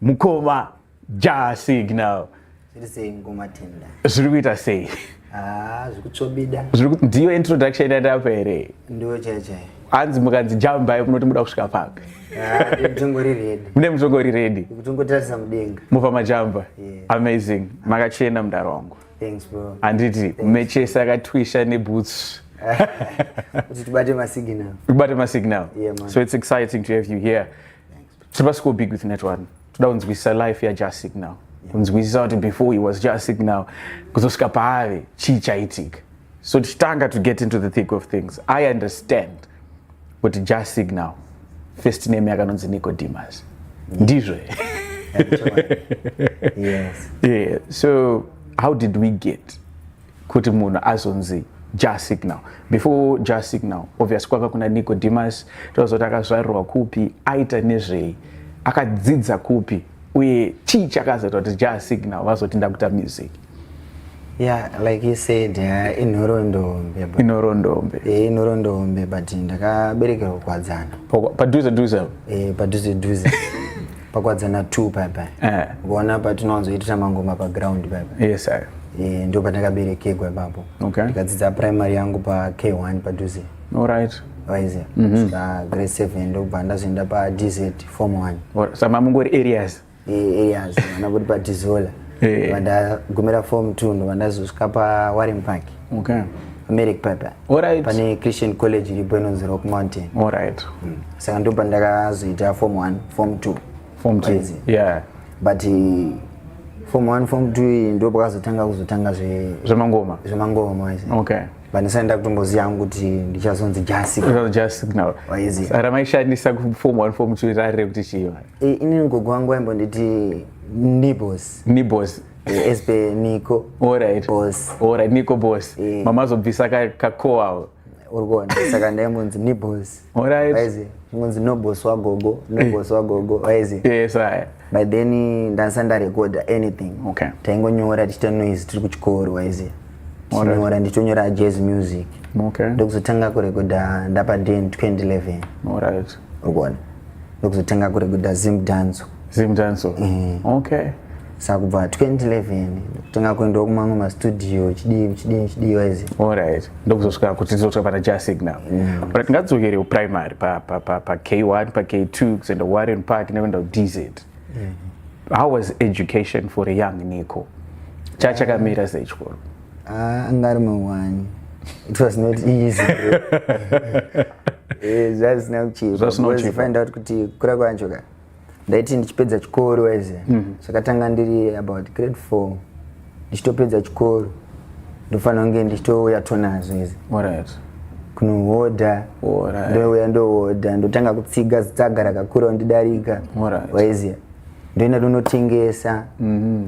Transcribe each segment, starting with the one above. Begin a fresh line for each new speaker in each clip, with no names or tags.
mukoma ja signal zviri sei mukoma tenda zviri kuita sei ah, zvikutsvobida
ndiyo
introduction yandapa here ndiyo chaiyo chaiyo
hanzi mukanzi
jambai munoti muda kusvika papi ah,
mune mutongori redi mupa majamba
amazing makachena mudaro wangu handiti
mechese
akatwisha nebhutsu
tibate masignal
so it's exciting
to have
you here Tiri pasiko big with network. Toda kunzwisisa life yaJah Signal. Kunzwisisa kuti before he was Jah Signal kuzosvika paave chii chaitika. So tichitanga to get into the thick of things. I understand kuti Jah Signal first name yakanonzi Nicodemus. Ndizvo.
yes. Yeah. So
how did we get kuti munhu azonzi ja signal before ja signal obvious kwaka kuna nicodemus tozoti akazvarirwa kupi aita nezvei akadzidza kupi uye chii chakazoita kuti ja signal vazoti ndakuta music yeah
like you said yeah, inhorondombe inhorondombe
eh inhorondombe
but ndakaberekerwa kwadzana padhuze
dhuze eh padhuze
dhuze pakwadzana 2 paya paya eh. ukaona patinowanzoitira mangoma paground paya paya yes, sir. Eh,
ndo
pandakaberekegwa ipapo okay. ndikadzidza
primary yangu
pak1 padhuze right
waize mm -hmm.
saka grade 7 ndokubva ndazoenda padz form 1 saka mungori areas
eh, areas
ana kuti padizola eh. vandagumira form 2 ndo vandazosvika pawaring park okay.
americ paya paya
Alright. pane
christian college
iripo inonzi rock mountain Alright.
mm. saka ndo
pandakazoita form 1 form 2 Form two. Crazy.
Yeah. but
eh, form 1 form 2 iyi ndo pakazotanga kuzotanga zve- Zvemangoma.
zvemangoma wise
Okay. but ndisati
ndakutomboziva
hangu kuti ndichazonzi jasi That was just
signal. Waiziva. Saka ramaishandisa
ku
form 1 form 2 rarire kuti chii manje? Eh, inini gogo wangu
aimbonditi nibos Nibos. Esp Niko. Alright. Boss.
Alright, Niko
boss.
Yeah. Mama zobvisa ka ka ko awo. Uri kuona
saka ndai munzi ni boss. Alright. Waize.
Munzi no
boss wa gogo, no eh. boss wa gogo. Waize. Yes, I.
By then
ndansa nda record anything. Okay. Taingonyora
tichita
noise tiri kuchikoro waize. Tinyora ndichonyora jazz music. Okay. Ndokuzotanga
kurekoda
ndapa den 2011. Alright.
ukuona
ndokuzotenga kuri kuda zim danzo zim danzo
mm. okay saka
kubva 2011 kutenga kuendawo kumamwe mastudio chidii chidii chidii waizi allright ndokuzosvika
kuti tizosvika pana ja signal mm. ora tingadzokere kuprimary pak1 pak2 kuzoenda kuwarren park nekuenda kudz mm. how was education for a young nico chachakamira sechikoro Ah, anga ari
mawani. It was not easy. Eh, zvazina kuchipa. Zvazina Because kuchipa. find out
kuti kura
kwacho ka. Ndaiti ndichipedza chikoro waize. Zvakatanga ndiri about grade 4. Ndichitopedza chikoro. Ndofanira kunge ndichitouya tonazo izi. Alright.
kunohodha
Alright.
ndouya ndohodha ndotanga
kutsiga zitsaga rakakura ndidarika Alright. waiziya ndoenda ndonotengesa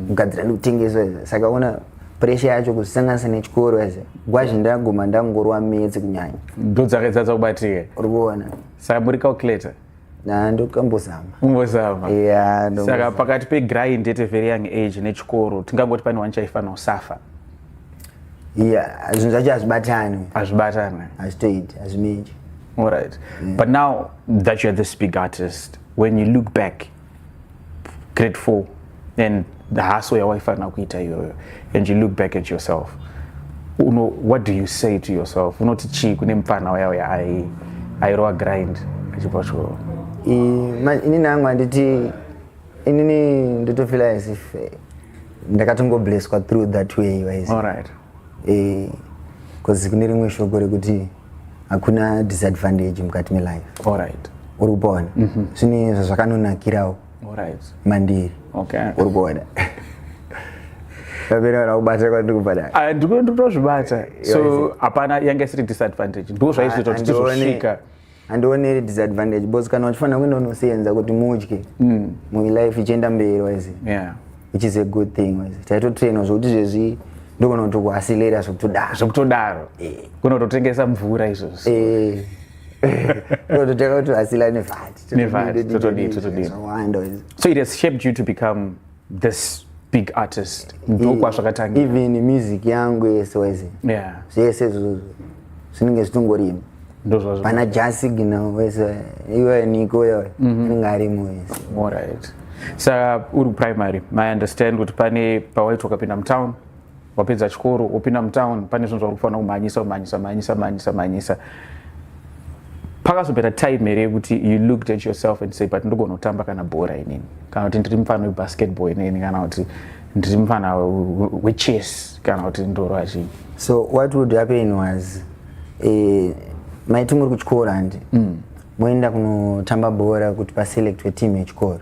kugadzira ndikutengesa saka ona pressure yacho kuzisanganisa nechikoro as gwazhi ndaguma ndangorwa metsi kunyanya ndo dzakaitadza
kubatika uri kuona
saka muri
calculator ndokambozama
umbozama yeah, saka pakati
pegrind at a very young age nechikoro tingangoti pane wani chaifanira kusafa
yeah zvinhu zvacho hazvibatani hazvibatani hazvitoiti hazvimenji all right
mm. but now that youare this big artist when you look back grade 4 and the hassle yawaifanira kuita iyoyo and you look back at yourself uno what do you say to yourself unoti chii kune mupfana wayawo yaai airova grind achibva choo ini
nangu handiti inini ndotofila as if ndakatongoblesswa through that way wise all right
eh
cause kune rimwe shoko rekuti hakuna disadvantage mukati melife all right
uri kuona
mhm. zvine zvazvakanonakirawo
mandiri uri kuona
vapera vakubata kwandiri kubata ah, ndikutozvibata
so hapana yanga isiri disadvantage ndo zvaizoita kuti tizosvika ah, handione iri
disadvantage bcause kana uchifanira kuenda unosenza kuti mudye mm. mulife ichienda mberi wise yeah. which is
a good
thing wise taitotrainwa zvokuti zvezvi ndogona kuti kuasileira zvokutodaro zvokutodaro
eh. kunototengesa mvura izvozvo eh.
tototeka kuti asila nevati nevati
totodii totodii so it has shaped you to become this big artist ndokwazvakatangira even music
yangu yese wese yeah zvese
izvozvo
zvinenge zvitongorima ndozvazvo pana jasigina wese iwe niko yo mhm. anenge arimo wese alright
sa uri primary i understand kuti pane pawaitwa kapinda mutown wapedza chikoro wopinda mutown pane zvinhu zvauri kufanira kumhanyisa kumhanyisa mhanyisa mhanyisa mhanyisa pakazopera time here yekuti you looked at yourself and say but ndogona kutamba kana bhora inini kana kuti ndiri mufana webasketball inini kana kuti ndiri mufana wechess kana kuti ndorwa chii so what would
happen was eh, maiti muri kuchikoro handi mm. moenda kunotamba bhora kuti paselectwe team yechikoro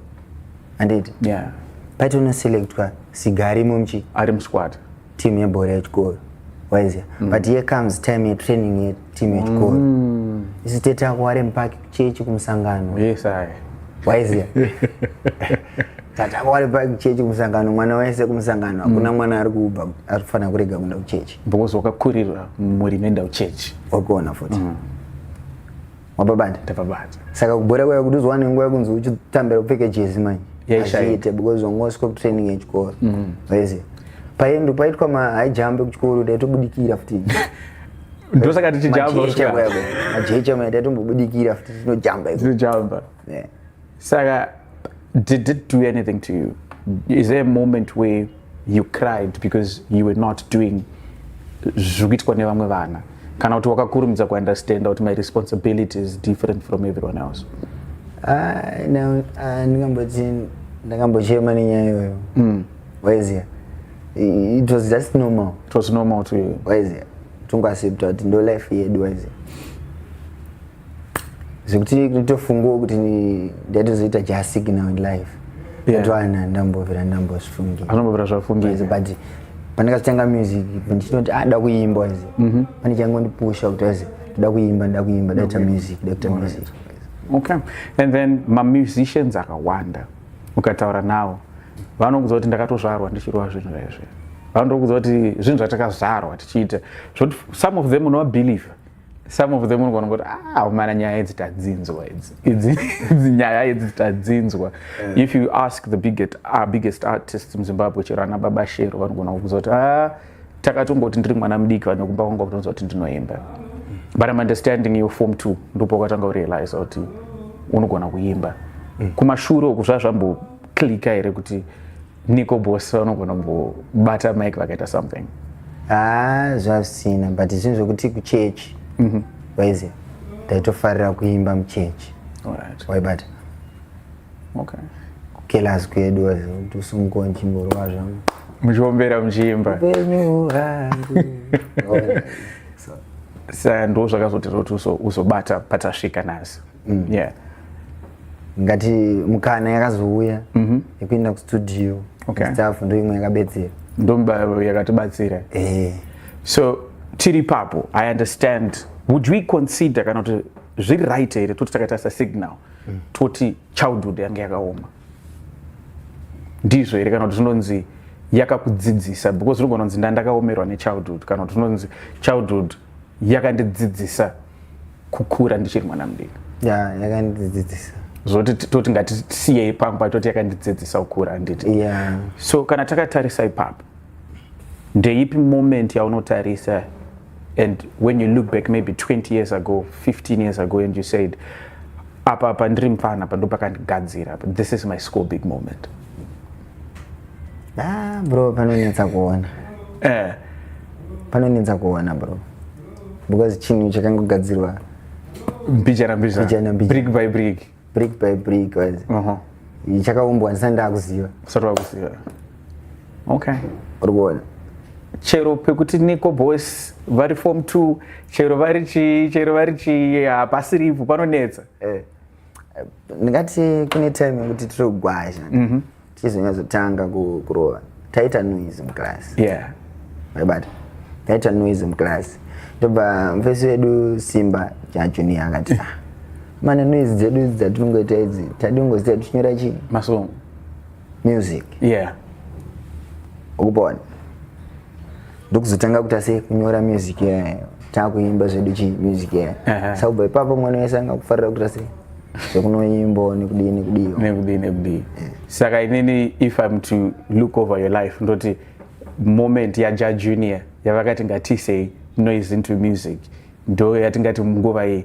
handiti yeah.
paiti unoselectwa
Siga arimo mchi. Ari musquad.
Team yebhora
yechikoro. Waiziya. Mm. But here comes time yetraining yeteam yechikoro. Mm. Isu tete ako ari mupaki kuchechi kumusangano. Yes, aye.
Waiziya.
Tata ako ari paki kuchechi kumusangano. Mwana wese kumusangano. Mm. Hakuna mm. mwana ari kuba ari kufanira kurega kuenda kuchechi. Because wakakurirwa
muri menda kuchechi. Wakuona futi. Mm.
wabva banja ndabva banja
saka kubhora kwaya kuti
uzowane nguva yekunzi uchitambira kupfeke jezi manje hazviite because wanga wasvika kutraining yechikoro mm. waiziva paendo paitwa mahigh jump kuchikoro taitobudikira futi ndosaka
tichijamba majecha
maitaitombobudikira futi tinojamba tinojamba yeah. saka
did it do anything to you is there a moment where you cried because you were not doing zviri kuitwa nevamwe vana kana kuti wakakurumidza kuunderstanda kuti my responsibility is different from everyone else ah, ndingamboti
ndakambochema nenyaya iyoyo mm. waiziva it was just normal it was normal to you
waiziva
tongoaccepta kuti ndo life yedu waiziva zvekuti nditofungawo kuti ndatozoita jasiki now in life ndatoana ndambovira ndambozvifungira anombovira zvafungira
but
pandakazotanga music ndinoti ada ah, kuimba izi mhm. pane changondipusha kuti azi ndoda kuimba ndoda kuimba ndaita music ndaita music
okay and then mamusicians akawanda ukataura nawo vanokuudza kuti ndakatozvarwa ndichirova zvinhu zvaizvi vanotokuudza kuti zvinhu zvatakazvarwa tichiita zvoti some of them unowabelieve some of them unogona kuti ah umana nyaya idzi tadzinzwa idzi idzi idzi nyaya idzi tadzinzwa eh. if you ask the biggest, uh, biggest artist muzimbabwe chero ana baba shero vanogona kukuza kuti ah takatongoti ndiri mwana mudiki vane kumba kwanga kutonza kuti ndinoimba but im understanding you form two ndopa ukatanga urealize kuti unogona kuimba mm. kumashure uku zvazvamboclika here kuti niko boss vanogona kumbobata mike vakaita something haa zvazvisina
but zvinhu zvekuti kuchechi mhm. waiziva taitofarira kuimba muchechi waibata
okay kelas
kwedu kuti usunguko ndichimborova zvangu muchiombera
muchiimba upenyu hwangu saka ndo zvakazotira kuti uzobata patasvika nhasi mm. yeah
ngati mukana yakazouya mhm. yekuenda kustudio staff ndo
imwe yakabetsera
ndomba
yakatibatsira eh. so tiri papo i understand would we consider kana kuti zviri right here toti takaita sasignal mm. toti childhood yange yakaoma ndizvo here kana kuti zvinonzi yakakudzidzisa because unogona kunzi ndandakaomerwa nechildhood kana kuti unonzi childhood yakandidzidzisa kukura ndichiri mwana mudiki yeah, yakandidzidzisa
zvoti toti
ngatisiye ipapo patoti yakandidzidzisa kukura handiti yeah. so kana
takatarisa
ipapo ndeipi moment yaunotarisa and when you look back maybe 20 years ago 15 years ago and you said apa apa ndiri mfana apa ndopakandigadzira this is my school big moment ah,
bro panonetsa kuona eh. panonetsa kuona bro because chinhu chakangogadzirwa
mbichana mbichana brick by brick brick by brick was uh -huh. chakaumbwa
ndisati ndakuziva usati wakuziva
okay uri kuona
chero
pekuti niko boys vari form two chero vari chii chero vari chii hapasiripo panonetsa eh.
ndingati kune time yekuti tiri kugwazha mhm. tichizonyazotanga kurova taita noise muclass
aibata
taita noise muclass ndobva mufesi wedu simba jajuni akati ah, mana noise dzedu idzi dzatinongoita idzi tadi kungozita tichinyora chii masong
music yeah
ukupona ndokuzotanga kuita se kunyora music yayo takuimba zvedu chi music yayo saka kubva ipapo mwana wese anga kufarira kuita se zvekunoimbo nekudii nekudii nekudii nekudii saka
inini if im to look over your life ndoti moment yaja junior yavakati ngatisei noise into music ndo yatingati munguva iyi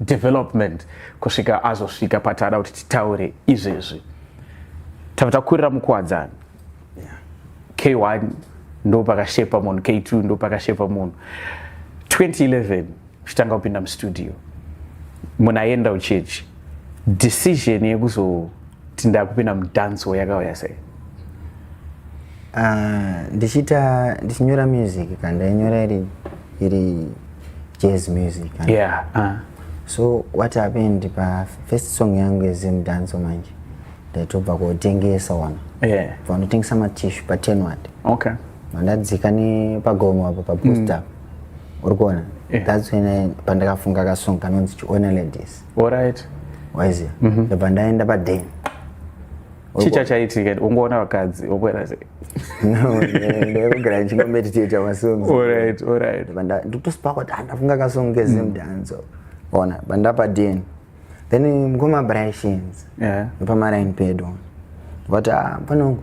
development kusvika azosvika patada kuti titaure izvezvi tava takurira mukuwadzani k1 ndo pakashepa munhu k2 ndo pakashepa munhu 2011 uchitanga kupinda mustudio munhu aenda uchechi decision yekuzo tindakupinda mudanso yakauya sei ah,
ndichiita ndichinyora music ka ndainyora iri iri jazz music yeah, uh.
so
what happened pa first song yangu yezemudanso manje ndaitobva kotengesa wana yeah. vanotengesa
matishu
patenward okay.
vandadzika
nepagomo apo paposta mm. uri kuona yeah. that's when pandakafunga kasong kanonzi chiona ladies Alright.
Waiziya. Mm -hmm.
Ndobva ndaenda paden.
Chii chachaitika ungoona vakadzi wokwera sei? No,
ndakugara ndichingomeditata masongs. Alright, alright.
Ndikutosipa kuti
ah, ndafunga kasong kezim mm. dance. Ona, bandapa den. Then mukoma Brashins. Yeah. Pamaraini
pedo.
Vati ah, pano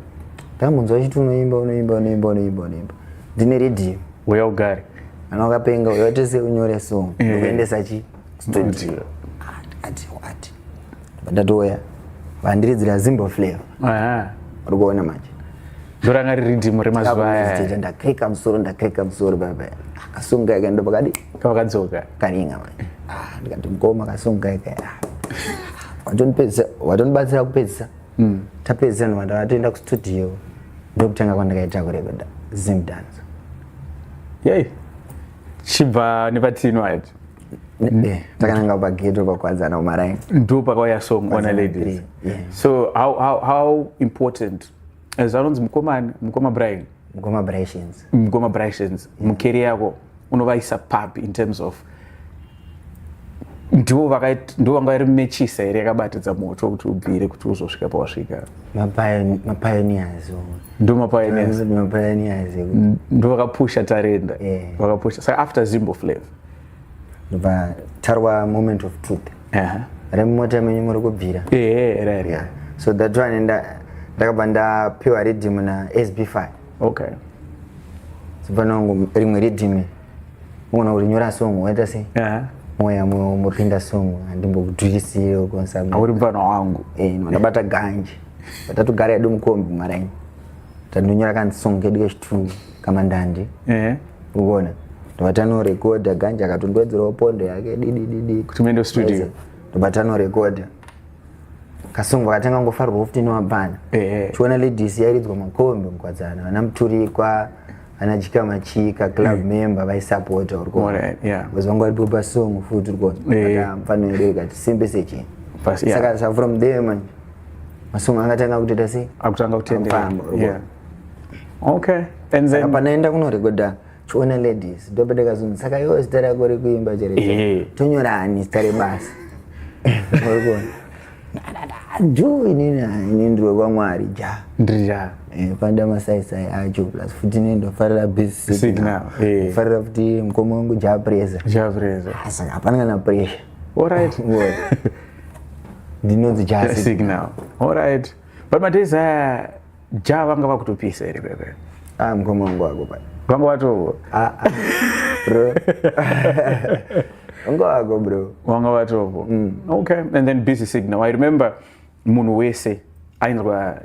ndakambonzwa chiti unoimba unoimba unoimba unoimba unoimba. Ndine radio. Uya ugare.
Anokapenga
uya tese unyore song. Ndikuendesa chii? ndatouya vandiredzera zimbo flavor uri kuona manje ndoranga riri
dhimu remazuva aya ndakrika musoro ndakrika
musoro baba akasunga ika ndopakadi kavakadzoka
karinga manje
ah, ndikati mukoma akasunga ika watonibatsira kupedzisa hmm. tapedzisa ndomanda vatoenda kustudio ndokutanga kwandakaita kurekeda zimdance
yei chibva nepatino ati Eh,
takananga pageto pakuwadzana umaraini ndo pakauya song
ona ladies yeah. so how, how, how important as anonzi mukomani mukoma brian mukoma brashins mukoma brashins yeah. mukeri yako unovaisa pap in terms of ndivo ndivo vanga vari mechisa here yakabatidza moto kuti ubvire kuti uzosvika pawasvika mapioneers ndo mapioneers ndo vakapusha tarenda vakapusha saka after zimbo flav ndobva
tarwa moment of truth remumota menyu muri kubvira
so that one
ndakabva ndapiwa riddim na sb5 okay so pano rimwe riddim Unaona kuti nyora song waita sei? Yeah. Moya moyo umopinda song andimbokudwirisirewo konsa. Auri mfana wangu.
Eh, ndabata ganje.
Batatu gari yedu mukombi maraini. Tandonyora kan song kedu kechitungu kama ndandi. Eh. Uona. Ndobatano record ganje akatondwedzerawo pondo yake didi
didi.
Kuti mendo studio.
Ndobatano
record. Kasongo katanga ngofarwa 15 wabvana. Eh. Chiona ladies yairidzwa makombi mkwadzana. Vana muturikwa. ana chika machika club mm. member vaisapota uri kuona because vanga varipo pasong futi uri kuona mfana wedu ikati simbe sechini saka sa from there manje masong angatanga kutoita sei akutanga kutendefamba
okay and then panaenda kunorekodha
chiona ladies ndopete kazungu saka iwo zita rako rekuimba chero eh. tonyorani zita rebasa jo inini ini ndiri wekwamwari ja ndiri ja eh, panda masaisai acho plus futi inini ndofarira basignalfarira eh. futi mukoma wangu ja presa ja presa ah, saka hapana kana pressure allright ndinonzi ja signal
allright but mataisa Ja vanga vakutopisa here kwekwe. Ah mkoma wangu
wako pai. Vanga watovo. Ah,
ah.
Bro. Ungo wako bro. Wanga watovo.
Mm. Okay. And then busy signal. I remember munhu wese ainzwa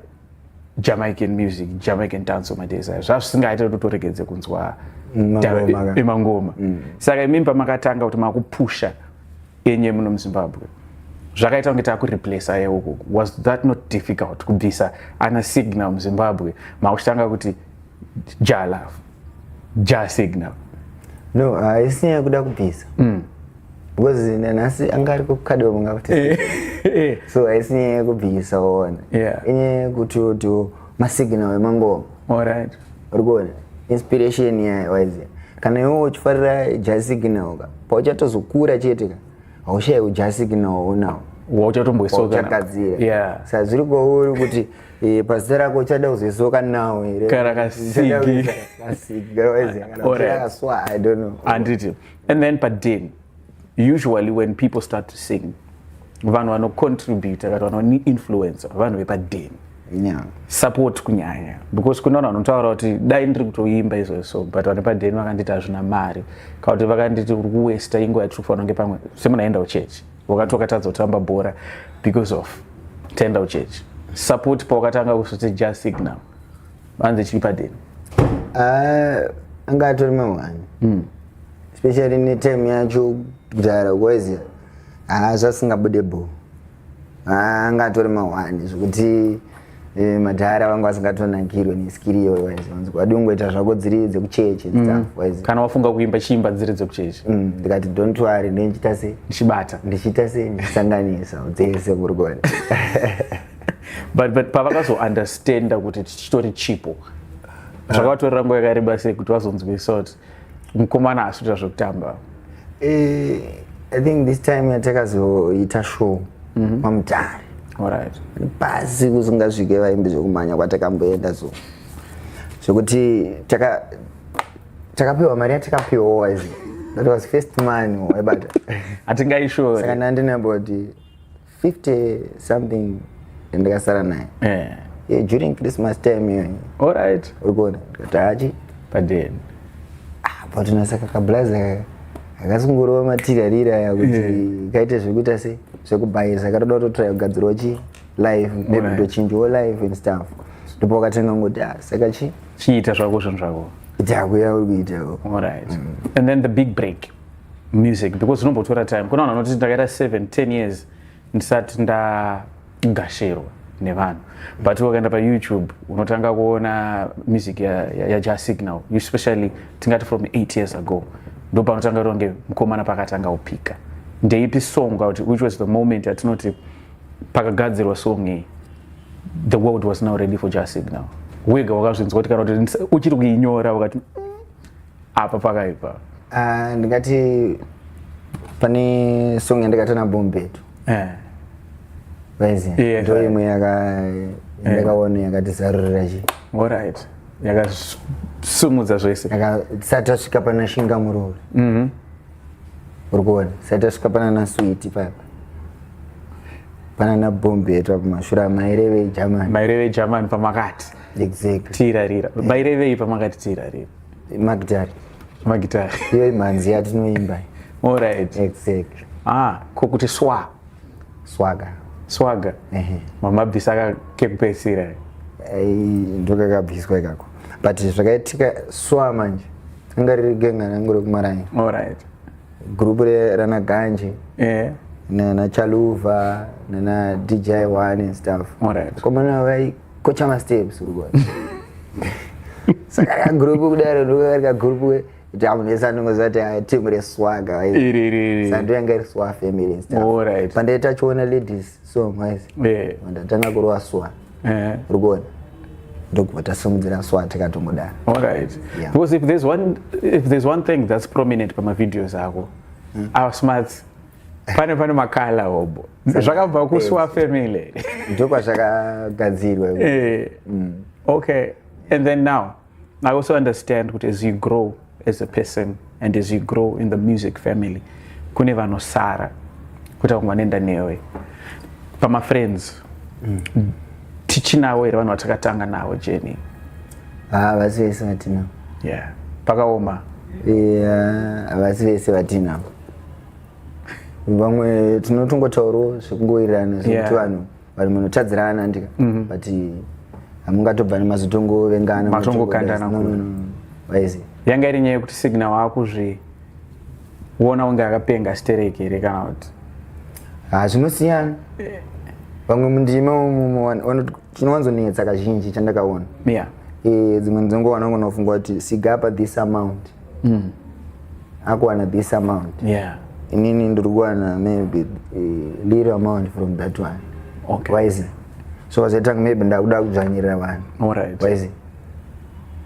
Jamaican music, Jamaican dance of my days. Zvazvisingaite kuti utoregedze kunzwa emangoma. Mm. Saka imimi pamakatanga kuti makupusha enye muno muzimbabwe zvakaita kunge takureplace ye uku was that not difficult kubvisa ana signal muzimbabwe makuchitanga kuti ja love ja signal no
haisi nyaya yekuda kubvisa mm. because nanhasi anga ari kukadiwa kunga kuti eh, eh. so haisi nyaya yekubvisa ona inyaya yekuti otiwo masignal emangoma alright
uri kuona
inspiration iya waiziva kana iwe uchifarira jasignal ka pauchatozokura chete ka haushaiwo jasignal unawo wauchatomboisokagadzira
sa zviri kwauri
kuti eh, pazita rako uchada kuzoisoka nawo here kana
kasigikaswahandi
and then
paden usually when people start to sing vanhu vanocontributa kana vanoinfluencer vanhu vepadeni yeah. support kunyanya because kune vanhu vanotaura kuti dai ndiri kutoimba izvo so but vane padeni vakanditi hazvina mari kana kuti vakanditi uri kuwesta ingo yatiri kufanira kunge pamwe semunaenda uchechi wakati wakatadza kutamba bhora because of tenda uchechi support pawakatanga kusvoti ja signal vanzi chiri padeni ah,
anga atori mahwani mm. especially netime yacho kudhara kwaiziya haa zvasingabude bho haa anga atori mahwani zvekuti eh, madhara vanga vasingatonakirwe neskiri iyoyo waizi vanzwa wadi ungoita zvako dziri dzekuchechi and stuff waizi kana wafunga
kuimba chiimba dziri dzekuchechi Mm, ndikati don't
worry ndindichita sei ndichibata ndichiita sei ndichisanganisa dzese kuri kuona but
but pavakazounderstanda kuti chitori chipo zvakavatorera nguva yakareba sei kuti vazonzwe sort mukomana asvita zvekutamba eh,
i think this time yatakazoita show mhm. mamutare
pasi
kusingasvike vaimbi zvekumhanya kwatakamboenda so zvekuti takapiwa mari yatakapiwa wise that was first money waibata
hatingaishoresakanandinaboti
50 something ndikasara naye yeah. yeah, during christmas time iyoyi alright uri kuona
ndikati
hachi padeni
ah,
but nasaka kablaza akasungurova matirarira aya kuti yeah. kaite zvekuita se zvekubhayisa katoda kutotraya kugadzirwa chi life maybe right. tochinjawo life and stuff ndipo wakatenga ngoti ah, saka chi chiita zvako
zvinhu zvako itakuya uri kuitao
alright mm. and
then the big break music because zvinombotora time kuna vanhu vanoti ndakaita 7 10 years ndisati ndagashirwa nevanhu but wakaenda payoutube unotanga kuona music yaja ya, signal especially tingati from 8 years ago ndo panotanga ronge mukomana pakatanga kupika ndeipi song kuti which was the moment atinoti pakagadzirwa song iyi the world was now ready for ja signal wega wakazvinzwa kuti kana kuti uchiri kuinyora wakati mm, apa pakaipa uh, ndingati
pane song yandikata nabombetu eh. vaiziva yeah, ndo imwe yakaona eh. yakati zarurira chi orit
yakasumudza zvese tisati tasvika
pana shinga muroori mhm. uri kuona tisati tasvika pana naswiti papa pana nabombetu apo mashura maireve jamani maireve jamani
pamakati exactly
tirarira
mairevei pamakati tirarira magitari
magitari iyo imhanzi yatinoimba orit
exactly
ah ko kuti
swa swaga swaga mamabvisa ka kekupedzisira ndokakabviswa
ikako but zvakaitika swa manje anga riri genga rangu rekumaraini orit gurupu rana ganje yeah nana chaluva nana dji one and stuff komana Ko chama steps uri kuona. Saka ka group kudaro ndokari ka group we jamu nesa ndingoziva kuti ah, team re swaga waizi. Iri iri iri. Sando
yanga iri swa
family and stuff. All right. Pande tachiona
ladies
so waizi. Yeah. Ndatanga kurova swa. Eh. Uri kuona. ndokubva tasimudzira swa tikatongodana alright yeah.
because if there's one if there's one thing that's prominent pamavideos ako mm. our smarts pane pane makala hobho zvakabva kusuwa family
ndokwazvakagadzirwa eh, mm.
okay and then now i also understand kuti as you grow as a person and as you grow in the music family kune vanosara kuti vamwe vanoenda newe pamafriends mm. tichinawo here vanhu vatakatanga navo jeni havasi
ah, vese vatinavo yeah.
pakaoma
havasi yeah, vese vatinavo vamwe tinotongotaurawo zvekungowirirana zvekuti vanhu vanhu munotadzirana andika mhm. but hamungatobva nemazotongovengana matongokandana
waizi
yanga iri nyaya
yekuti signa waakuzviona kunge akapenga stereki here kana kuti ha
zvinosiyana vamwe mundima umu chinowanzonetsa kazhinji chandakaona yeah. e, dzimwe nzongo vanongonofunga kuti sigapa this amount mm. akuwana this amount yeah. inini ndiri kuwana maybe uh, little amount from that one okay. wise so vazoitanga maybe ndakuda kudzvanyirira vanhu right. wise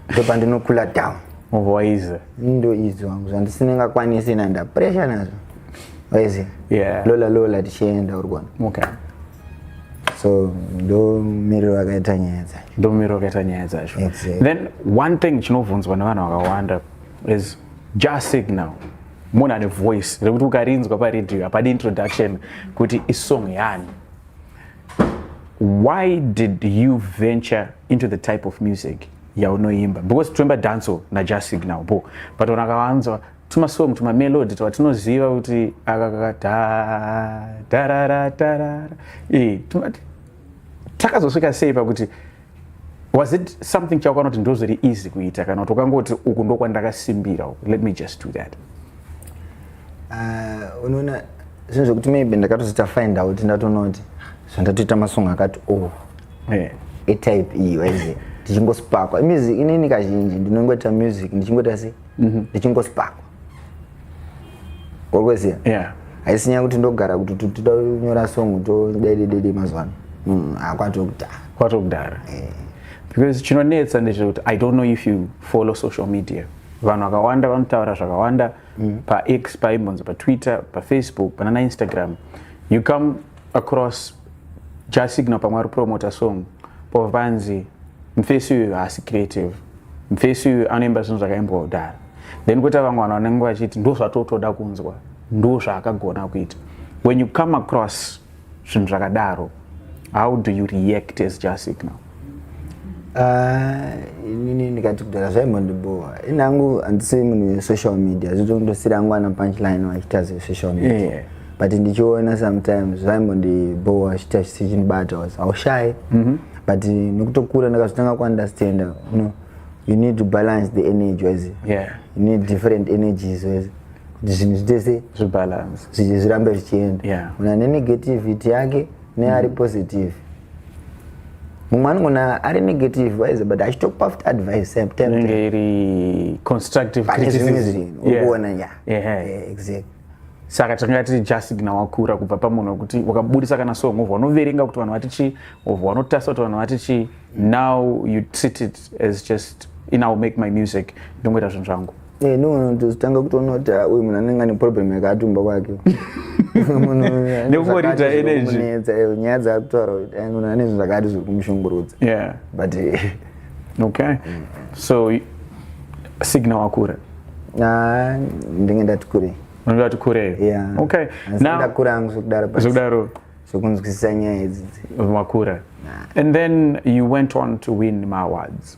ndopandinokula down wise
ndo izvo
vangu zvandisinengakwanisi nanda pressure nazvo wise yeah. lola lola tichienda uri kuona okay. so ndomiriro vakaita nyaya dzacho ndomiriro vakaita nyaya dzacho exactly. then one
thing chinobvunzwa nevanhu vakawanda is just signal munhu ane voice rekuti ukarinzwa paradio hapadi introduction kuti isong yani why did you venture into the type of music yaunoimba because toimba danso najust signal bo but vanhu vakawanzwa tumasong tumamelodi twatinoziva kuti akakakadhadararadarara eh, takazosvika sei pakuti was it something chaukanoti ndozviri easy kuita kana kuti ukangoti uku ndokwandakasimbira uku let me just do that uh,
unoona zvinhu zvekuti maybe ndakatozoita find out ndatonoti zvandatoita masong akati o oh, eh. etype iyi waize tichingospakwa music inini kazhinji ndinongoita music ndichingoita sei mhm. ndichingospark orweziya yeah haisi nyaya kuti ndogara kuti totida kunyora song todaidedede mazuva ano mm, ah, kwatokudhara kwatokudhara
eh. because chinonetsa ndechekuti i don't know if you follow social media vanhu vakawanda vanotaura zvakawanda mm. pax paimbonzi patwitter pafacebook panana instagram you come across jasignal pamwe ari promota song pova panzi mfesi uyu haasi creative mfesi uyu anoimba zvinhu zvakaimbwa kudhara then kuita vamwe vanhu vanenge vachiti ndo zvatotoda kunzwa ndo zvaakagona kuita when you come across zvinhu zvakadaro how do you react as jasignal Ah,
inini ndikati kudhara zvaimondibhowa ini angu handisi munhu wesocial media zvitondosiri angu ana punchline vachiita zvesocial media yeah. but ndichiona sometimes zvaimbondibhowa chiita chichinibata was haushayi mm -hmm. but nekutokura ndakazotanga kuunderstanda you know, you need to balance the energy wese yeah. you need different energies wese kuti zvinhu zvitese zvibalance
zvirambe zvichienda
yeah. una nenegativity yake neari mm -hmm. positive mumwe anogona ari negative wise but achitokupa futi advice same time inenge iri
constructive pane zvimwe criticism zvinhu Yeah. ukuona ya
Yeah. Yeah, exactly saka
takanga tiri jasigna wakura kubva pamunhu wekuti wakabudisa kana song wobva wanoverenga kuti vanhu vati chii wobva wanotarisa kuti vanhu vati chii now you treat it as just in iwill make my music ndongoita zvinhu zvangu Eh, no, no, tozotanga
kutoona kuti ah, uyu munhu anenge ane problem yakatumba kwake nekungoridza
energy eh, nyaya dzaakutaura
kuti eh, munhu ane zvinhu zvakati zviri kumushungurudza but
okay so signa wakura ah,
ndinge ndati kurei unenge wati kurei
okay ndakura angu zvekudaro
zvekudaro
zvekunzwisisa
nyaya idzidzi makura
and then you went on to win maawards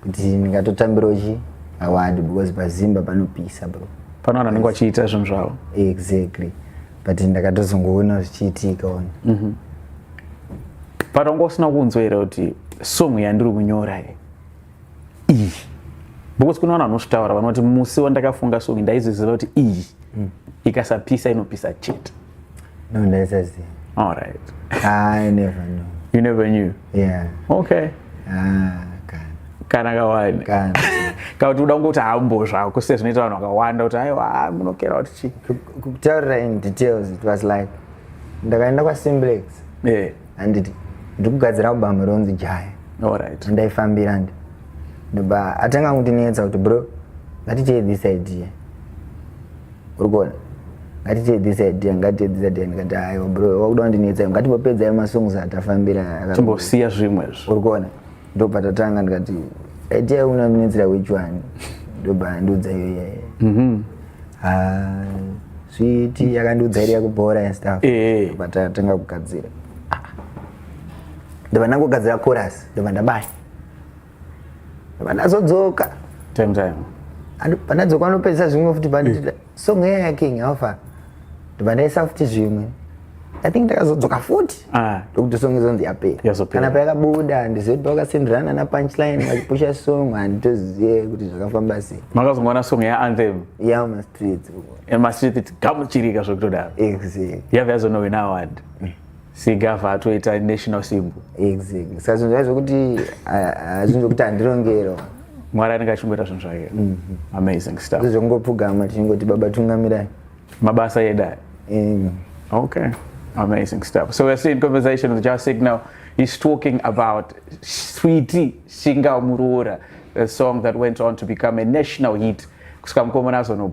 kuti ndingatotambirawo chi award because pazimba panopisa bro pano vanhu vanenge vachiita
zvinhu zvavo exactly
but ndakatozongoona zvichiitika ona mm -hmm.
but wanga usina kunzwa here kuti song yandiri kunyora ye iyi because kune vanhu vanozvitaura vanoti musi wandakafunga song ndaizoziva kuti iyi mm. ikasapisa inopisa chete No,
ndaisaziva. All right.
Ah, I never
knew. You never knew?
Yeah.
Okay. Ah,
kana. Kana kawani. Kana. Kana
kuti uda kungokuti
hambo zvako sezvinoita vanhu vakawanda kuti aiwa ah, munokera kuti chii. Kutaurira in
details it was like ndakaenda kwaSimblex. Yeah.
Handiti
ndiri kugadzira album ronzi Jaya. All right.
Ndaifambira ndi.
Ndobva atanga kundinetsa kuti bro, ngaticheye this idea. uri kuona ngatiteedzese idea ngatiteedzese idea ndikati aiwa bro wakuda kundinetsa ngatimbopedzai masongs atafambira timbosiya zvimwe
izvo uri kuona ndobva
tatanga ndikati idea una minetsera which one ndobva ndiudza iyo iyaye mhm. ah, switi yakandiudza iri yakubhora and stuff eh, eh. ndobva tatanga kugadzira ndobva ndangogadzira chorus ndobva ndabaya vanazodzoka time time
panadzoka
vanopedzisa zvimwe futi banditi eh. song iya yaking haufa ndibanaisa futi zvimwe i think ndakazodzoka futi ah. ndokuti song izonzi yapera kana payakabuda ndizive kuti pavakasenderana napunchline vachipusha song handitozive kuti zvakafamba sei makazongoona song yaanthem
ya mastreet
mastreet
gamuchirika zvekutodaro yave
yazonowe naaward
mm. sigava atoita national symbol exactly saka zvinhu
zvaizvokuti zvinhu zvokuti handirongero mwari anenge
achingoita zvinhu zvake mhm. amazing stuff zvongopfugama tichingoti
baba tungamirai mabasa edu
aya okay amazing stuff so we're seeing conversation with jasik now he's talking about switi shinga muroora a song that went on to become a national hit kusvika mukomana azono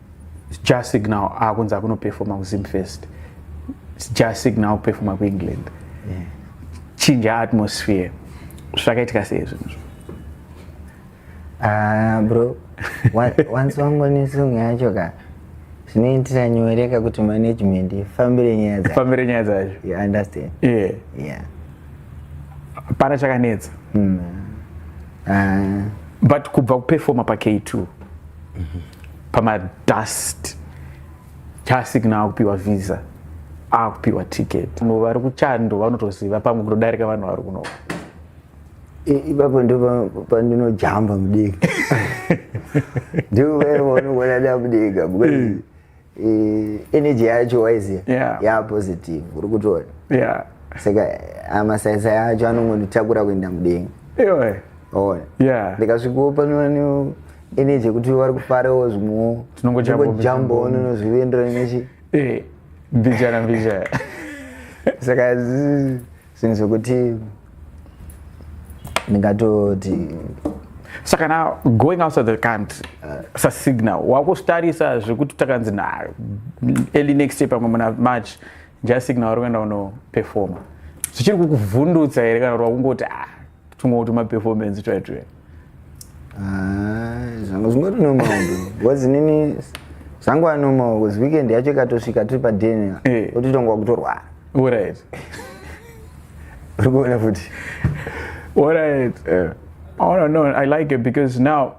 jah signal akunzi akunoperfoma kuzim first jah signal kuperfoma kuengland yeah.
chinja
atmosphere zvakaitika sei zvinhu zvo ah,
bro wanzi wangonesong yacho ka zvinoitira nyore ka kuti management ifambire nyaya dzafambire nyaya dzacho you understand
yeah. yeah. pana chakanetsa mm. uh. but kubva kuperfoma pak2 mm -hmm. pamadust chaasikna akupiwa visa akupiwa ticket no vari kuchando vanotoziva pamwe kutodarika vanhu vari kuno
ipapo ndo pandinojamba mudiki ndikuvaivaunokuona damudika because mm. energy yacho waiziva yeah. yaa positive uri kutoona yeah. saka amasaisa yacho anongonditakura kuenda mudenga ona yeah. ndikasvikawo pano energy yekuti vari kufarawo zvimwewo tinongojambawo nonozvienderana nechi eh, mbijana
mbijana
saka zvinhu zvekuti ndingatoti
saka na going outside the country uh, sasignal wakustarisa zvekuti takanzi na early next year pamwe muna march njasignal wari kuenda unoperforma zvichiri kukuvhundutsa here kana kuti wakungoti ah, Tumwe kuti ma performance try try. Ah,
zvangu zvingori normal bro. Was nini zvangu a normal was weekend yacho ikatosvika tiri pa dinner. Eh. Otitongwa kutorwa. All right.
Uri
kuona futi. All
right. Eh. Oh no no, I like it because now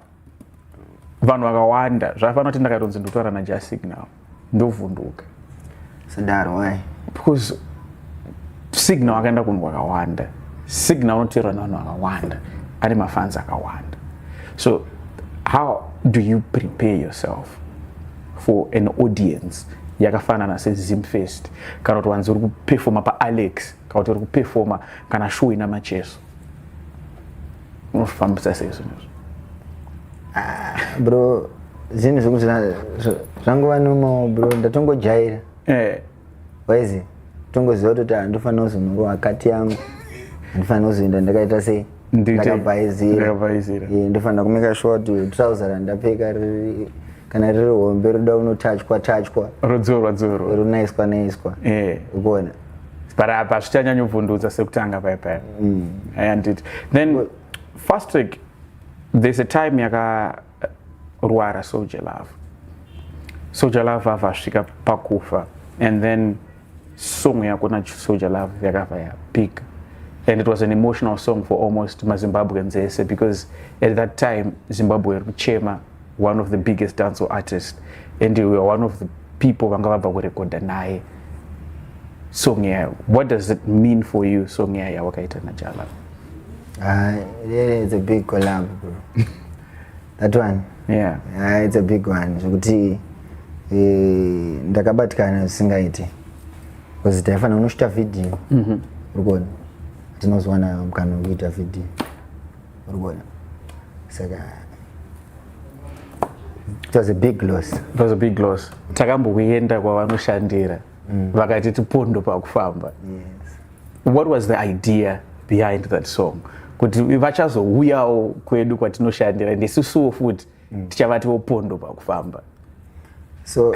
vanhu vakawanda zvafana kuti ndakatonzi ndotaura najasic now ndovhunduka sadaro
why because
signal akaenda kunhu kwakawanda signal unoteerwa nevanhu vakawanda ane mafanzi akawanda so how do you prepare yourself for an audience yakafanana sezimfest kana kuti wanzi uri kupefoma paalex kana kuti uri kupefoma kana show ina macheso unofambisa
sei zvinhu izvo ah, bro zvinhu zvekuti zvangova nomo bro ndatongojaira eh. waizi tongoziva kutoti handifanira ah, kuzonunguva akati yangu handifanira kuzoenda ndakaita sei ndakabhaizira eh, ndofanira kumeka shuwa kuti trouser randapfeka riri kana riri hombe roda unotachwa tachwa rodzorwa dzorwa
ronaiswa naiswa
eh. ukuona yeah. but apa
zvichanyanyovhundutsa sekutanga paya paya mm. and it, then fast track there's a time yakarwara soldier love soldier love ava asvika pakufa and then song yako na soldier love yakava yapika and it was an emotional song for almost mazimbabweans ese because at that time zimbabwe iri kuchema one of the biggest dance artist and we are one of the people vanga vabva kurekodha naye song yayo what does it mean for you song yayo yawakaita najala uh, ah,
yeah, it's a big collab bro that one yeah. uh, it's a big one zvekuti eh, ndakabatikana zvisingaiti bcause taifana unosvita vhidhiyo mm -hmm. urikuona tinozowana mukana wekuita vhidhiyo urikuona saka it was a big loss it was a big loss takambokuenda kwavanoshandira mm. vakati tipondo pakufamba yes. what was the idea behind that song kuti vachazouyawo kwedu kwatinoshandira ndisusuwo futi mm. tichavatiwo pondo pakufamba so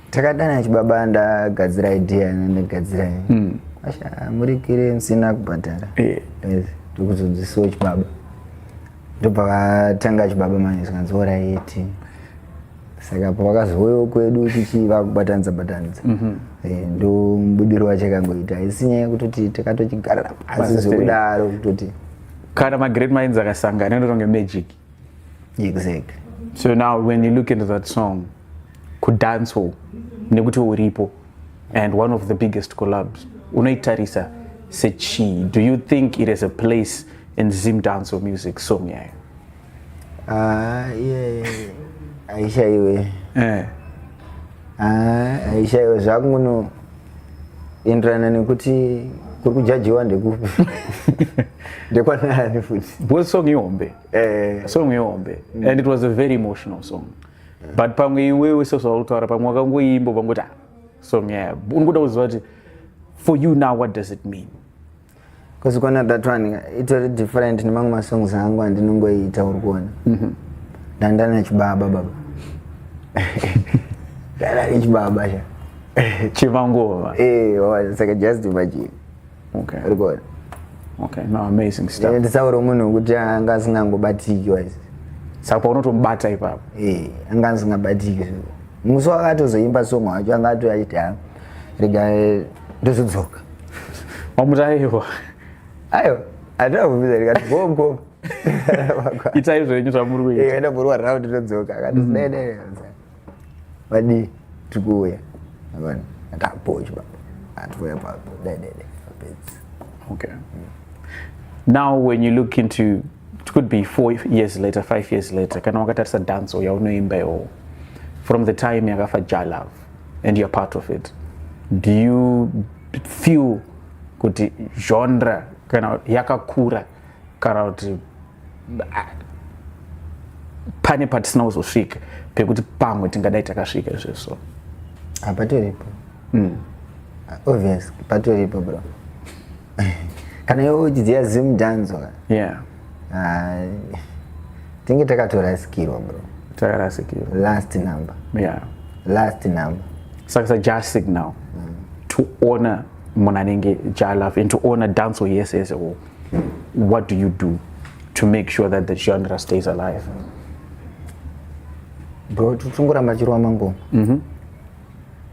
takadana chibaba ndagadzira idea ndagadzira mm. asha murikire musina kubhadhara yeah. yes. ndokuzonzisiwo chibaba ndobva vatanga chibaba manje zvikanzi oraiti saka pavakazouyawo kwedu tichi vakubatanidza batanidza mm -hmm. Eh, ndomubudiro wacho akangoita haisi nyaya yekutoti takatochigarira pasi zvekudaro kutoti kana magreat
minds akasangana inotonge magic
exactly so now
when you look into that song kudancehall nekuti uripo and one of the biggest collabs unoitarisa sechii do you think it has a place in zim dance or music song yayo ah,
aishaiwe eh. ah, aishaiwe zvakuno enderana nekuti kuri kujajiwa ndekupi ndekwanani futi bosong ihombe
eh. song ihombe mm. and it was a very emotional song yeah. but pamwe iwewe sezvaurikutaura pamwe wakangoimbo pangoti ah, song yaya unokuda kuziva kuti for you now what does it mean because
kwana that one itori different nemamwe masongs angu andinongoiita uri kuona mm-hmm. ndandana chibaba baba ndandana chibaba sha chimangova
eh, oh,
saka just imagine okay. uri kuona okay.
no, amazing stuff eh, nditsaure munhu wekuti
anga asingangobatiki wise saka paunotomubata
ipapo eh, anga
asingabatiki musi wakatozoimba song wacho anga atoya chiti ha rega eh, ndozodzoka
wamutaiwa
ayo atira kubvisa rikati gogo
itai zvenyu zvamuri kuita enda eh, murwa round todzoka
akati mm. vadii tikuuya avana atapoch baba atikuuya papo dedede apedzi
okay now when you look into it could be four years later five years later kana wakatarisa danso yaunoimba iwowo from the time yakafa jalove and you're part of it do you feel kuti genre kana yakakura kana kuti pane patisina kuzosvika pekuti pamwe tingadai takasvika izvezvo ah, patoripo
mm. ah, obvious patoripo bro kana iwe uchidziya zim danzo yeah. uh, tinge takatorasikirwa bro takarasikirwa
last number
yeah.
last number
saka sa just
signal mm. to honor munhu anenge jalove and to honor danso yese yese what do you do to make sure that the genre stays alive
bro tichingoramba chirwa mangoma mm -hmm.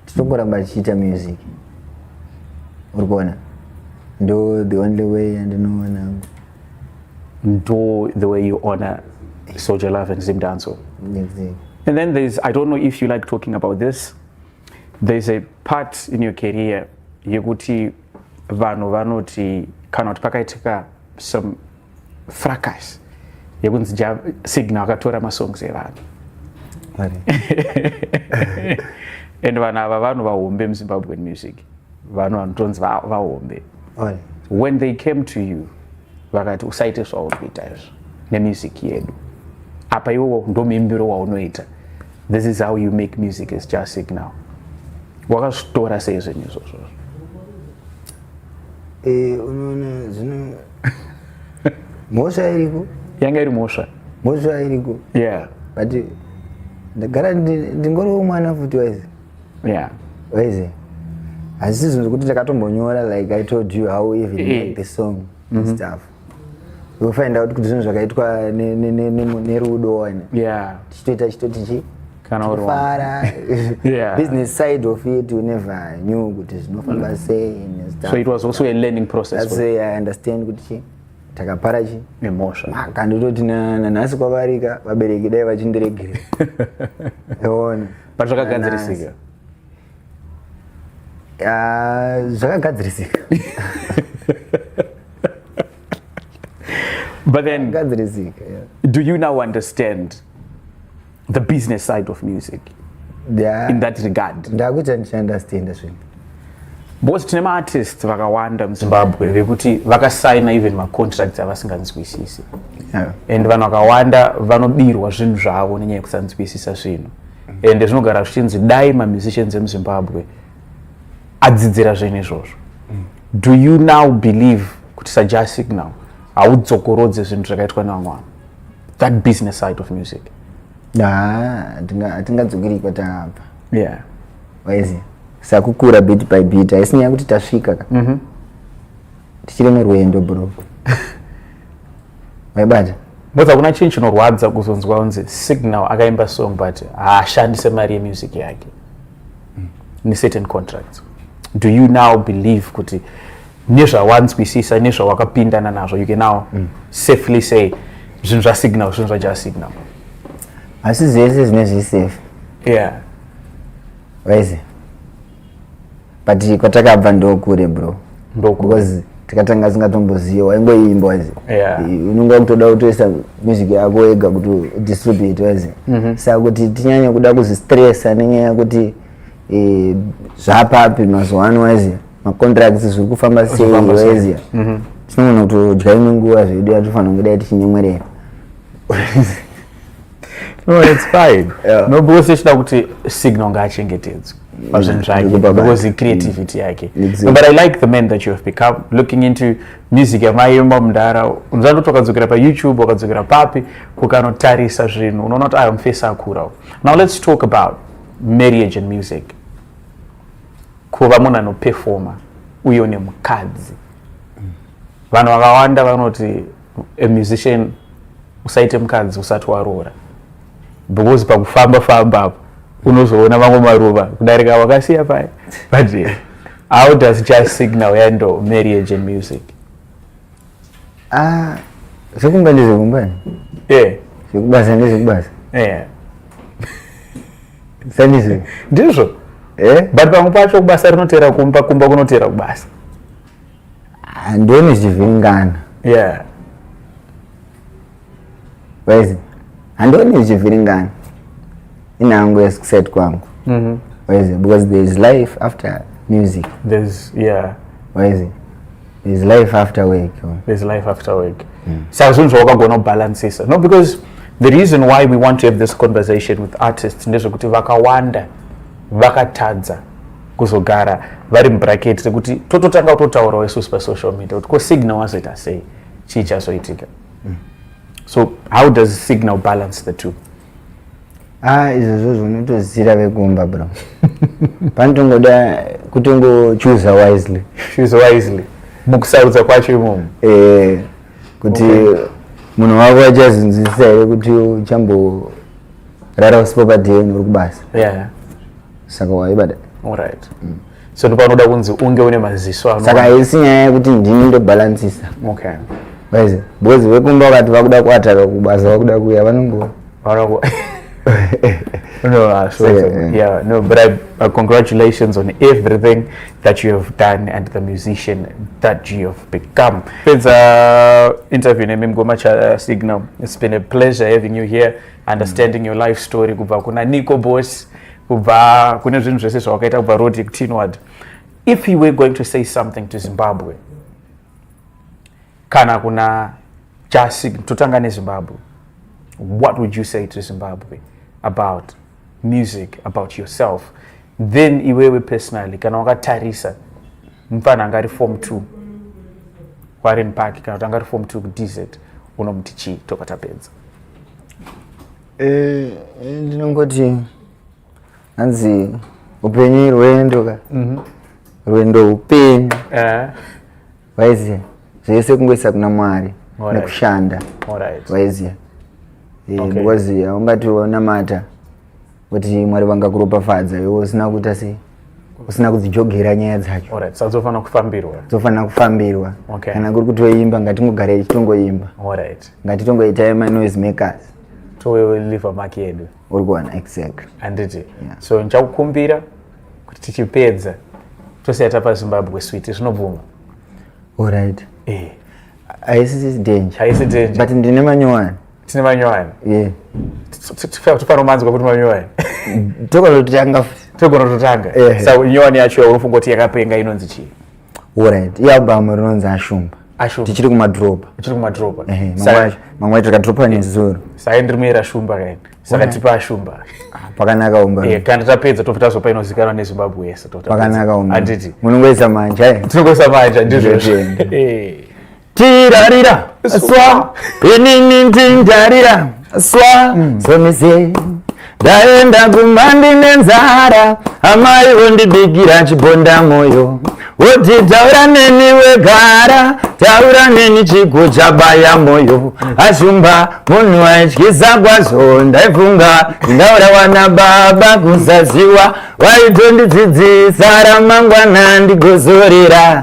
tichingoramba chichiita music uri kuona ndo the only way yandinoona angu
ndo the way you honor soldier love and zim danso exactly. and
then there's i
don't know if you like talking about this there's a part in your career yekuti vanhu vanoti kana kuti pakaitika some fracas yekunzi ja signal akatora masongs evanhu and vanhu ava vanhu vahombe muzimbabwean music vanhu vanotonzi vahombe when they came to you vakati usaite zvauri kuita izvo nemusic yedu apa iwowo ndomuimbiro waunoita This is how you make music is just sick now. Wakazvitora sei zvenyu izvozvo?
Eh, unoona zvino mhosva iriko. Yanga iri mhosva.
Mhosva iriko.
Yeah. But ndagara ndingoriwo mwana futi
waizi.
Yeah. Waizi. Asi zvinhu zvekuti ndakatombonyora like I told you how even eh. like the song mm -hmm. stuff. wofind out kuti zvinhu zvakaitwa nerudo wani tichitoita
chitoti
chii fara yeah. business
side of
it we never knew kuti zvinofamba mm. sei so it was also a learning
process that's why i understand
kuti chi takapara chi nemhosva
maka ndototi
nanhasi kwavarika vabereki dai vachindiregere eona but
zvakagadzirisika Ah,
zvakagadzirisika
but then gadzirisika yeah.
do you now
understand the business side of music yeah. in that regard ndakuita ndichiunderstanda
zvinhu because
tine maartist vakawanda muzimbabwe vekuti vakasaina even macontracts avasinganzwisisi yeah. and vanhu vakawanda vanobirwa zvinhu zvavo nenyaya yekusanzwisisa zvinhu ende zvinogara zvichinzi dai mamusicians emuzimbabwe adzidzira zvinhu izvozvo mm. do you now believe kuti saja signal haudzokorodze zvinhu zvakaitwa nevamwe vanhu that business side of music hatingadzokeri
kwatabva yeah
waizi
sakukura bit by bit haisi nyaya kuti tasvika ka mm -hmm. tichiri murwendo bro maibata because hakuna chinhu
chinorwadza kuzonzwa kunzi signal akaimba song but haashandise mari yemusic yake mm. necertain contracts do you now believe kuti nezvawanzwisisa nezvawakapindana nazvo you can now mm. safely say zvinhu zvasignal zvinhu zvaja signal asi
zese zvine zvisafe
yeah
waize but kwatakabva ndokure bro because tikatanga singatomboziva waingoimba wazi unenge wakutoda kutoisa music yako wega kuti distribute wazi mhm. saka kuti tinyanye kuda kuzvistressa nenyaya yekuti eh, zvapapi mazuva ano wazi macontracts zviri kufamba sei wazi mhm. tinogona kutodya imwe nguva zvedu yatofanira kunge dai tichinyemwerera
no it's fine yeah. no because ichida kuti signal ngaachengetedzwe pazvinhu mm, zvake because creativity mm. yake no, but i like the men that you have become looking into music yamaimba mudhara unzani kuti wakadzokera payoutube wakadzokera papi kukanotarisa zvinhu unoona kuti ayo mufesi akurawo now let's talk about marriage and music kuva munhu anopefoma uye une mukadzi vanhu vakawanda vanoti a musician usaite mukadzi usati waroora because pakufamba famba apo unozoona mamwe maruva kudarika wakasiya paya but eh, how does just signal handle marriage and music ah
zvekumba ndezvekumba yeah zvekubasa ndezvekubasa yeah sandizvo ndizvo
eh but pamwe pacho kubasa rinoteera kumba kumba kunoteera kubasa Ah, ndoni
zvichivhiringana yeah waizi handoni zvichivhiringana inhangu yeskuset kwangu mm-hmm. waizi because there is life after music there's yeah waizi there is life after work there is life after
work mm. saka zvinhu zvawakagona kubalancisa no because the reason why we want to have this conversation with artists ndezvekuti vakawanda vakatadza kuzogara vari mubracket rekuti tototanga kutotaurawo isusu pasocial media kuti ko signal wazoita sei chii chazoitika mm. so how does signal balance the two ah
izvozvo zvinotozira vekumba bro panotongoda kutongochuza wisely choose wisely
mukusarudza kwacho imomo eh
kuti okay. munhu wako achazinzwisisa here kuti uchamborara usipo padn uri kubasa yeah.
saka
waibada right mm.
so ndopanoda kunzi unge une maziso ano saka haisi nyaya yekuti
ndini ndobalansisa okay guys boys vekumba wakati vakuda kuataka kubasa vakuda kuya vanongo vanongo
no, uh, so, yeah. yeah, no, but I, uh, congratulations on everything that you have done and the musician that you have become. It's uh, interview name Mgoma Cha uh, Signal. It's been a pleasure having you here, understanding mm. your life story. Kubakuna Nico Boss. kubva kune zvinhu zvese zvawakaita kubva road ekutinward if you were going to say something to zimbabwe kana kuna jasi totanga nezimbabwe what would you say to zimbabwe about music about yourself then iwewe personally kana wakatarisa mfana anga ari form two warren park kana kuti anga ari form two kudz unomuti chii toka tapedza Eh,
eh, ndinongoti hanzi upenyu irwendo ka mhm. rwendo upenyu eh. waiziva zvese kungoisa kuna mwari nekushanda waiziva because haungati wanamata kuti mwari vangakuropafadza iwe usina kuita sei usina kudzijogera nyaya dzacho right. so dzofanira kufambirwa
dzofanira kufambirwa
okay. kana kuri
kutoimba
ngatingogarai titongoimba right.
ngatitongoitai manoise
makers toliva
maki yedu uri kuwana exact
handiti yeah. so
ndichakukumbira kuti tichipedza tosiya tapa zimbabwe switi zvinobvuma orit
eh. haisi danger but ndine
manyowani
tine
manyowani
yeah.
tofanira kumanzwa kuti manyowani togona kutotanga
togona kutotanga
yeah. sa nyowani yacho yaunofunga kuti yakapenga inonzi chii orit
ialbum rinonzi ashumba tichiri kumadropa tichiri kumadropa
mamwe acho
takadropa nezuro sai ndiri muera
shumba kaini saka tipa ashumba ah, pakanaka
umba eh, kana tapedza tobva tazopa
inozikanwa nezimbabwe yese pakanaka umba anditi
munongoisa
manja eh?
tinongoisa manja
ndizvozvo tirarira
swa inini ndindarira swa mm. somise ndaenda kumba ndine nzara amai vondibikira chibonda mwoyo woti taura neni wegara taura neni chigo chabaya mwoyo ashumba munhu aityisa kwazvo ndaifunga ndaura wana baba kusaziwa waitondidzidzisa ramangwana ndigozorera